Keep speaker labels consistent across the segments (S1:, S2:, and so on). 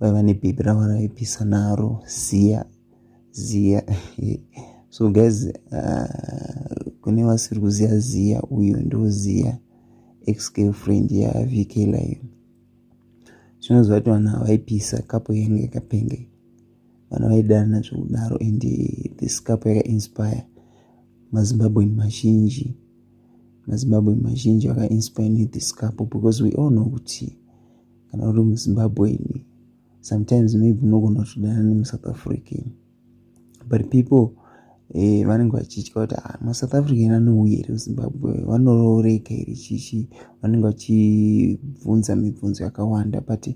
S1: vaiva nebebi ravo raipisa naro ziya ziya so guys uh, kune vasiri kuziya ziya uyo ndoziya ex girlfriend yavk live zvinoziva kuti vanhu havaipisa kapo yange yakapenge vanhu vaidana zvekudaro and this kapo yakainspire mazimbabwen mazhinji mazimbabwen mazhinji vakainspire nethis kapo because we all know kuti kana uri muzimbabwean sometimes maybe unogona kutodana nemusouth african but people eh, vanenge vachitya kuti ah, masouth african anouya here kuzimbabwe vanorooreka here chichi vanenge vachibvunza mibvunzo yakawanda but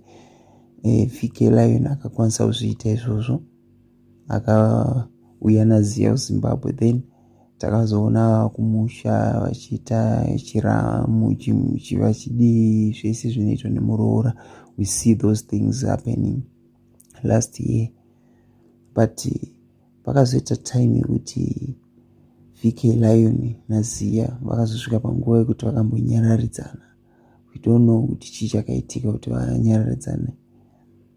S1: eh, fike lion akakwanisa kuzviita izvozvo akauya naziya kuzimbabwe then takazoona kumusha vachiita chiramu chivachidii zvese zvinoitwa nemuroora we see those things happening last year but pakazoita time yekuti vk lion naziya vakazosvika panguva yekuti vakambonyararidzana we don't know kuti chii chakaitika kuti vanyararidzane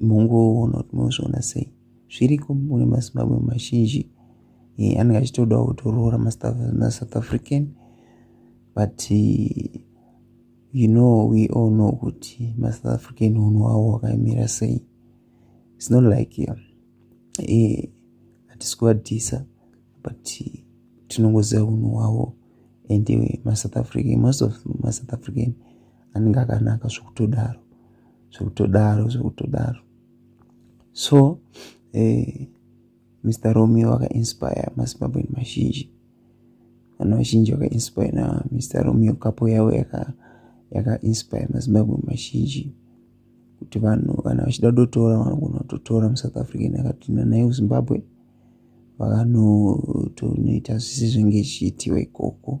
S1: mungouona kuti munozviona sei zviriko mune mazimbabwe mazhinji eh, anenge achitodawo kutoroora masouth african but you know we all know kuti masouth african hunhu hwavo hwakaimira sei its not like eh, hatisi eh, kuvadhisa but tinongoziva hunhu hwavo and masouth african most of masouth african anenge akanaka zvokutodaro zvekutodaro zvekutodaro so eh, mr romeo vakainspire mazimbabweni mazhinji vana vazhinji vakainspire namr romeo kapo yavo yakainspire yaka mazimbabweni mazhinji kuti vanhu kana vachida kutotora vanogona kutotora musouth african akatinda naye kuzimbabwe vakanotonoita zvisi zvenge zvichiitiwa ikoko